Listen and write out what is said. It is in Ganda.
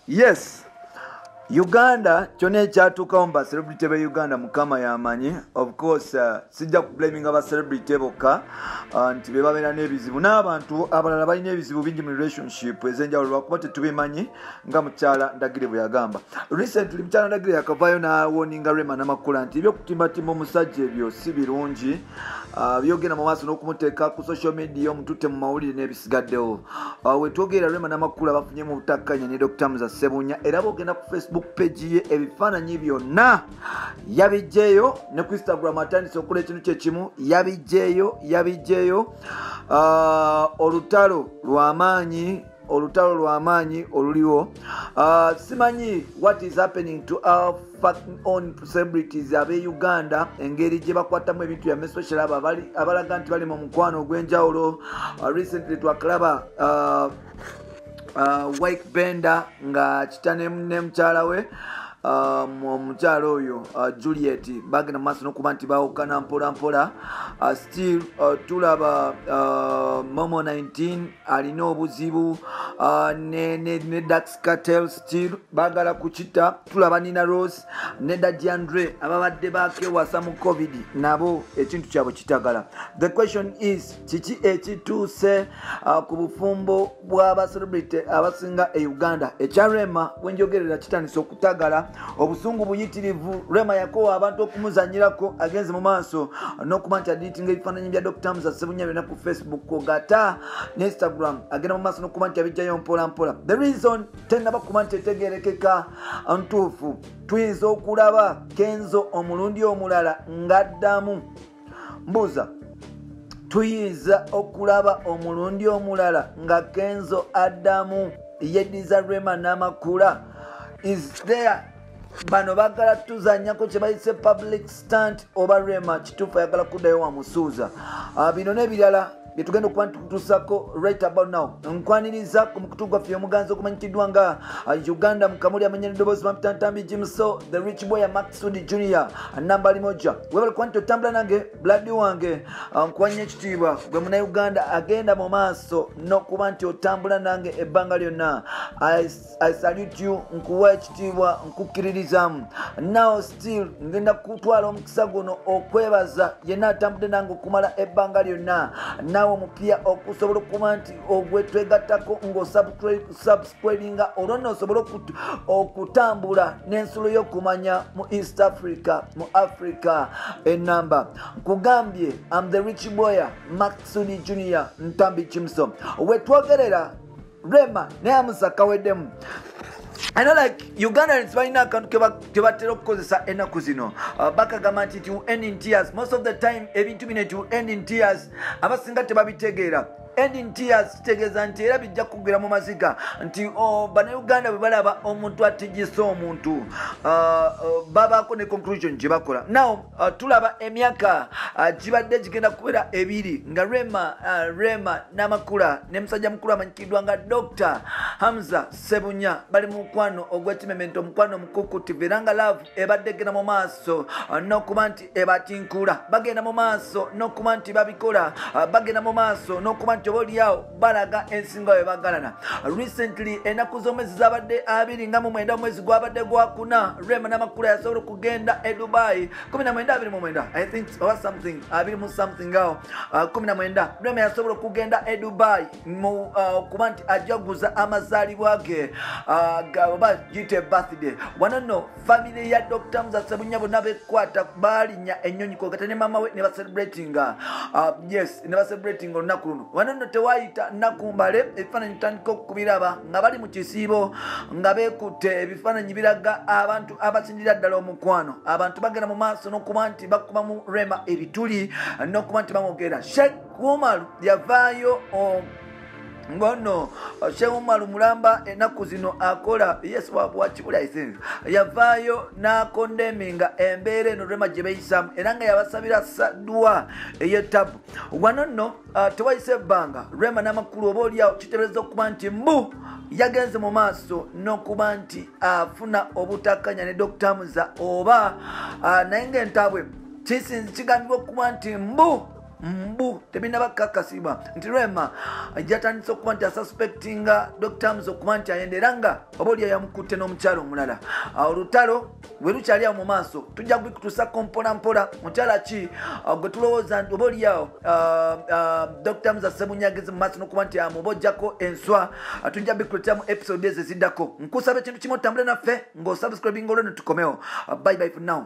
yes uganda kyona ekyatuukawo mu bacelebrity be uganda mukama yamanyi of course uh, sijja kublaminga bacelebrity bokka uh, nti bebabeera n'ebizibu n'abantu abalala balina ebizibu bingi mu relationship ezenjawulo lwakuba tetubimanyi nga mukyala ndagire bwe yagamba recently mukyala ndagire yakavaayo nawoninga rema namakula nti ebyokutimbatimba omusajja ebyo si birungi ah, byogenda mu maaso n'okumuteeka ku social media omututte mu mawulire n'ebisigaddewo ah, wetwogerera rema namakula bafunye mu butakkanya ne dr muza sebunya era bogenda ku facebook page ye ebifaananyi byonna yabijjeeyo ne ku instagram atandise okukola ekintu kyekimu yabijjeeyo yabijjeeyo ah, olutalo lwamaanyi olutalo lwamaanyi oluliwo uh, simanyi what is happening to our on celebrities abe uganda engeri gye bakwatamu ebintu byame especially abo abalaga nti bali mu mukwano ogw'enjawulo uh, recently twakalaba uh, uh, wike bender nga kita ne mukyala we um, omukyala um, oyo uh, juliet bagenda mumaaso nokuba nti bawukana mpolampola uh, still uh, tulaba uh, momo 19 alina obuzibu uh, ne, ne, ne dax cartel stil bagala kukita tulaba nina rose ne dadiandre ababadde bakewasa mu covid nabo ekintu kyabwe kitagala the question is kiki ekituuse uh, ku bufumbo bwabacelebrity abasinga e uganda ekyarema wenjogerera kitandisa okutagala obusungu buyitirivu rema yakowa abantu okumuzanyirako agenze mu maaso nokuba nti adiitinga ebifaananyi bya dr musa sebunya byona ku facebook kogata ne instagram agenda mu maaso nokuba nti abijjayo mpolampola the reason tenaba kuba nti etegerekeka ntuufu tuyinza okulaba kenzo omulundi omulala ng'addamu mbuuza tuyinza okulaba omulundi omulala nga kenzo adamu yediza rema n'amakula is there bano bagala tuzanyako kyebayise public stant oba rema kituufu ayagala kuddayo wamusuuza ah, bino nebirala byetugenda okuba ntutusako right about now nkwaniriza ku mukutu gwaffe omuganzi okumanyikiddwa nga uh, uganda mukamuli amanya nedoboozi mapitantambi jimso the rich boy ya maxud junior namba limoja webale kuba nti otambula nange bladi wange uh, nkwanya ekitiibwa gwe munauganda agenda mu maaso n'okuba nti otambula nange ebbanga lyonna I salute you nkuwa ekitiibwa nkukkiririzaamu now still ngenda kutwala omukisa guno okwebaza yenna atambudde nange okumala ebbanga lyonna naawe omupya okusobola okuba nti ogwetwegattako ngaosubscribinga olwo nno osobole okutambula n'ensulo y'okumanya mu east africa mu africa enamba nkugambye am the rich boyer maxuni junior ntambi kimso wetwogerera rema naye amusa kaweddemu I know like Ugandans balina akantu kebatera okukozesa ennaku zino uh, bakagamba nti it will end in tears most of the time ebintu bino it will end in tears abasinga tebabitegeera end in tears kitegeeza nti era bijja kugwira mu maziga nti oh, banauganda bwe balaba omuntu atigisa omuntu uh, uh, babaako ne conclusion gye bakola now tulaba emyaka gibadde gigenda kubeera ebiri nga rema rema namakula ne musajja mukulu amanyikiddwa nga dr hamza sebunya bali mu mukwano ogw'ekimemento omukwano omukukutivu era nga laavu ebadde egenda mu maaso n'okuba nti ebatinkula bagenda mu maaso n'okuba nti babikola bagenda mu maaso n'okuba nti oba oliawo balaga ensinga we bagalana recently enaku z'omwezi zabadde abiri nga mu mwenda omwezi gwabadde gwakuna rema namakula yasobola okugenda e dubai 1929 i think or something abiri mu something awo uh, kumi na mwenda rema yasobola okugenda e dubai uh, okuba nti ajaguza amazaalibwa ge uh, oba gite birthday wano no family ya dr muzasebunya bonna bekwata baalinya ennyonyi kwogata ne mama we ne bacelebratinga yes ne bacelebratinga olunaku luno wano no tewayita nakumbale ebifaananyi tutandika okubiraba nga bali mu kisiibo nga bekutte ebifaananyi biraga abantu abasinjira ddala omukwano abantu bagenda mu maaso n'okuba nti nti bakuba mu rema ebituli nokuba nti bamwogera shek umar yavaayo um, ngono shek umar mulamba enaku zino akola yes wakibulaisinzi yavaayo nakondeminga embeera eno rema gyebeyisamu era nga yabasabira sadwa eyetabu wano nno Ah, tewayise ebbanga rema namakulu oba olyawo kitebereza okuba nti mbu yagenze mu maaso n'okuba nti afuna obutakanya ne dokita muza oba ah, naye ngaentabwe kisinzi kigambibwa okuba nti mbu mbu tebinaba kakasibwa nti rema jatandise okuba nti asuspectinga dokita muza okuba nti ayenda era nga oba olyawo yamukutte n'omukyalo omulala ah, olutalo werukyali awo mu maaso tujja kubikutusa kompola mpola mukyala ki uh, gwe tulowooza oba oliawo uh, uh, dr mza semunyagezi mu maaso nokuba nti amubojjako enswa tujja bikuletera mu episode ezo eziddako nkusaba ekintu kimu otambule naffe ng'osubscribinga olweno tukomewo bye bye for now